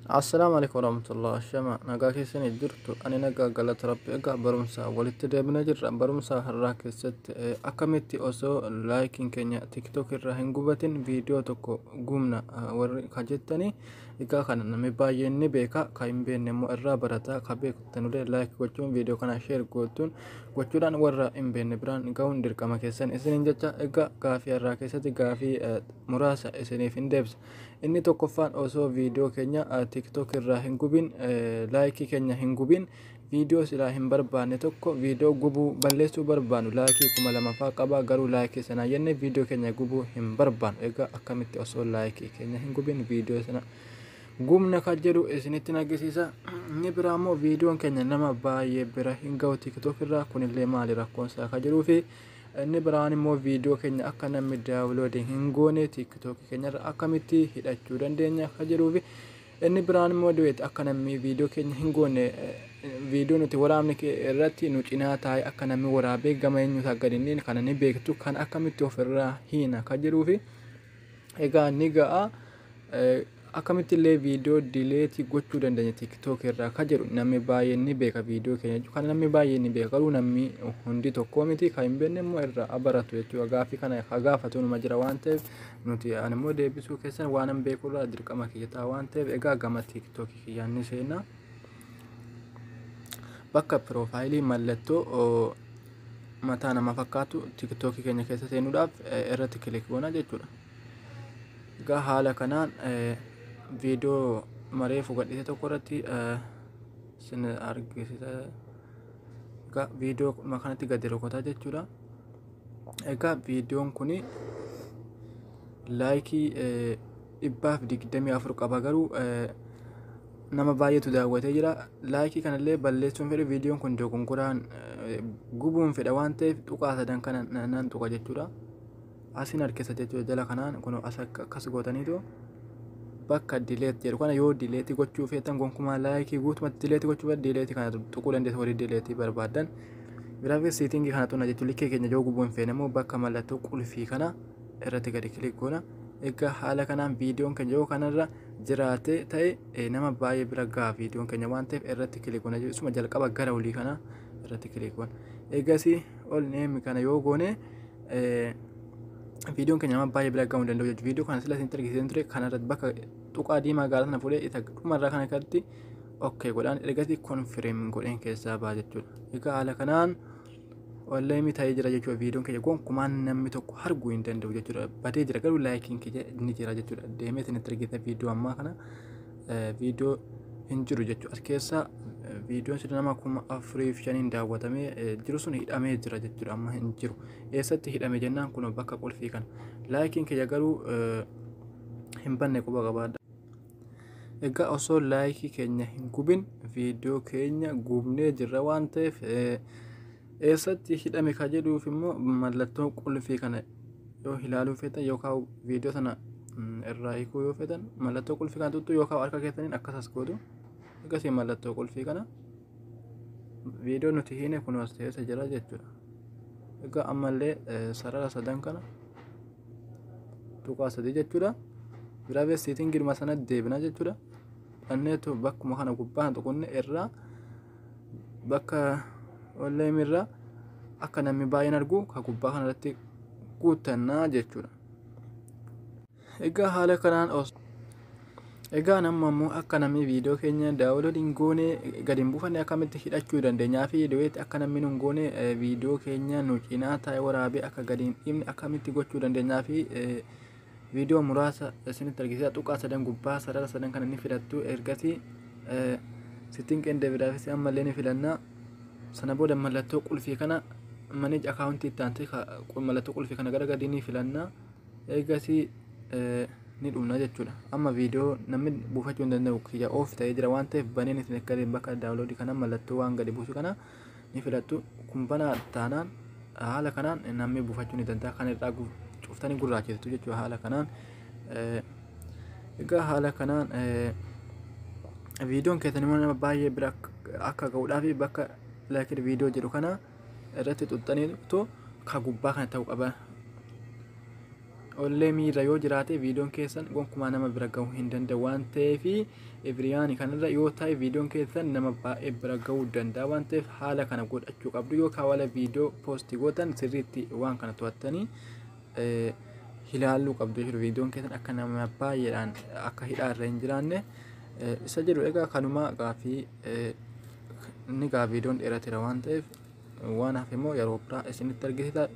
Assalaamu alaikum warahmatullahi shama nagaa keessanii jirtu ani nagaa galata rabbi egaa barumsaa walitti deebina jirra barumsaa har'aa keessatti eh, akkamitti osoo laayikiin keenya tiktok irraa hin gubatin viidiyoo tokko gubna ah, warri ka jettanii Hikaa kana namni baay'een ni beeka ka hin beekne immoo irraa barata ka beektanulee like gochuun viidiyoo kana share gootuun gochuudhaan warra hin beekne biraan ga'uun dirqama keessan isiniin jecha egaa gaafii irraa keessatti gaafii muraasa isiniif hin deebisa inni tokkoffaan osoo viidiyoo keenya tiktok irraa hin gubin laayikii keenya hin gubin Video silaa hin barbaanne tokko video gubuu, balleessuu barbaannu like kuma lama faa qaba garuu like sana jenne video keenya gubuu hin barbaannu egaa akkamitti osoo like keenya hin gubin video sana gubna kan jedhu isinitti nagisiisa inni biraa immoo videon keenya nama baay'ee bira hin ga'u tiktok irraa kunillee maali rakkoon isaa kan jiruu fi inni biraan immoo video keenya akka namni daawuloodi hin goone tiktok keenyarra akkamitti hidhachuu dandeenya kan jiruu fi Inni biraan immoo duet akka nammi video keenya hin goonne video nuti waraabne irratti nu cinaa taa'ee akka nammi waraabee gama eenyuuti akka gadi hin dhiine kana ni beektu kan akkamitti of irraa hiina ka jiruu fi egaa ni ga'a akkamitti illee video dileetii gochuu dandeenya tiktok irraa ka jedhu namni baay'een ni beeka video keenya jechuudha kan namni baay'een ni beeka garuu namni hundi tokkoo miti kan hin beekne immoo irraa baratu jechuudha gaaffii kana ka gaafatu numa jira waan ta'eef nuti ani immoo deebisuu keessan waanan beekurraa dirqama kiyya ta'a waan ta'eef egaa gama tiiktookii kiyyaan ni seenna bakka piroofaayilii mallattoo oo, mataa nama fakkaatu tiiktookii keenya keessa seenuudhaaf eh, irratti kilik goona jechuudha egaa haala kanaan eh, viidiyoo mareefu gadhiise tokko irratti eh, sin argisiisa egaa viidiyoo dhuma kanatti gadi rukutaa jechuudha egaa viidiyoon kun laayikii dhibbaaf digdamii afur qaba garuu nama baay'eetu daawwatee jira laayikii kanallee balleessuun fedhe viidiyoon kun dogongoraan gubuun fedha waan ta'eef tuqaa sadan kana nan tuqa jechuudha asiin harkisa jechuudha jala kanaan kun akkas gootaniitu bakka dileet jedhu kana yoo dileetii gochuu feetan gonkumaa laayikii guutumatti dileetii gochuu feetan dileetii kana tuquu dandeessu horii dileetii barbaadan Graphics setting kana tuna jechuun likkee keenya yoo gubuu hin feene immoo bakka mallattoo qulfii kana irratti gadi kilik goona. Egaa haala kanaan viidiyoon keenya yoo kanarra jiraate ta'e nama baay'ee bira gaha viidiyoon keenya waan ta'eef irratti kilik goona jechuudha. jalqaba gara olii kana irratti kilik goona. Eegasii ol neemi kana yoo goone viidiyoon keenya nama baay'ee bira gahuu hin danda'u jechuudha. Viidiyoo kana sila isin argisiisan ture kanarratti bakka tuqaa diimaa gaala sana fuudhee isa dhumarraa kana irratti ok godhaan ergasi konfireem godheen keessaa ba'a jechuudha egaa haala kanaan onlaayinii ta'ee jira jechuudha viidiyoon keenya gonkumaan namni tokko arguu hin danda'u jechuudha badee jira garuu laayikiin keenya ni jira jechuudha deemee isin itti argita viidiyoo ammaa kana viidiyoo hin jiru jechuudha as keessa viidiyoon sun nama kuma afurii fi shaniin daawwatamee jiru sun hidhamee jira jechuudha amma hin jiru eessatti hidhame jennaan kun bakka qulfii kana laayikiin keenya garuu hin banne quba qabaadha. Egaa osoo laayikii keenya hin gubin viidiyoo keenya gubnee jirra waan ta'eef eessatti hidhame ka jedhuuf immoo mallattoo qulfii kana yoo ilaaluu feetan yookaan viidiyoo sana irraa hiikuu yoo feetan mallattoo qulfii kana tuttu yookaan harka keessaniin akkasas gootu akkasii mallattoo qulfii kana viidiyoo nuti hiine kunuus ta'eessa jira jechuudha. Egaa ammallee sarara sadan kana tuqaa sadii jechuudha giraavee siitiin girma sana deebina jechuudha dhanneetu bakkuma kana gubbaa hin tuqunne irraa bakka olleem irraa akka namni baay'een argu ka gubbaa kana irratti guuttannaa jechuudha egaa haala kanaan os Egaan amma immoo akka namni viidiyoo keenya daawulood hin goone gadi hin buufanne akkamitti hidhachuu dandeenyaa fi du'eetti akka namni hin goone viidiyoo keenya nu cinaa taa'ee waraabee akka gadi hin dhiifne akkamitti gochuu dandeenyaa fi viidiyoo muraasa isinitti argisiisa tuqaa sadan gubbaa sarara sadan kana ni filattu ergasii sittiin qeendee biraa fi ammallee ni filanna sana booda mallattoo qulfii kana manage akaawuntii itti aantee mallattoo qulfii kana gara gadii ni filanna. eegasii ni dhumna jechuudha amma viidiyoo namni buufachuu hin danda'u kiyya oof ta'ee jira waan ta'eef baneen isin akka bakka daawuloodii kana mallattoo waan gadi buusu kana ni filattu kun banaa taanaan haala kanaan namni buufachuu ni danda'a kan irraa cuftanii gurraachiftu jechuudha haala kanaan egaa haala kanaan viidiyoon keessan immoo nama baay'ee bira akka ga'uudhaaf bakka laakir viidiyoo jedhu kana irratti xuxxaniitu ka gubbaa kana ta'u qaba. Ollee miira yoo jiraate viidiyoon keessan gonkumaa nama bira gahuu hin danda'u waan ta'eef ibiriyaani kanarra yoo ta'e viidiyoon keessan nama baay'ee bira gahuu danda'a waan ta'eef haala kana godhachuu qabdu yoo kaawala viidiyoo poostii gootan sirriitti waan kana to'attanii ilaaluu qabdu jechuudha viidiyoon keessan akka nama baay'eedhaan akka hidhaarra hin jiraanne isa jedhu egaa kanumaa gaafii Inni gaa viidiyoon dheerateera waan ta'eef waan hafe immoo yeroo biraa isinitti argisiisa.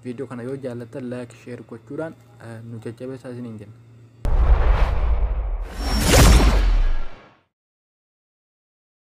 Viidiyoo kana yoo jaallattan laayik sheer gochuudhaan nu jajjabeessaa isiniin jenna.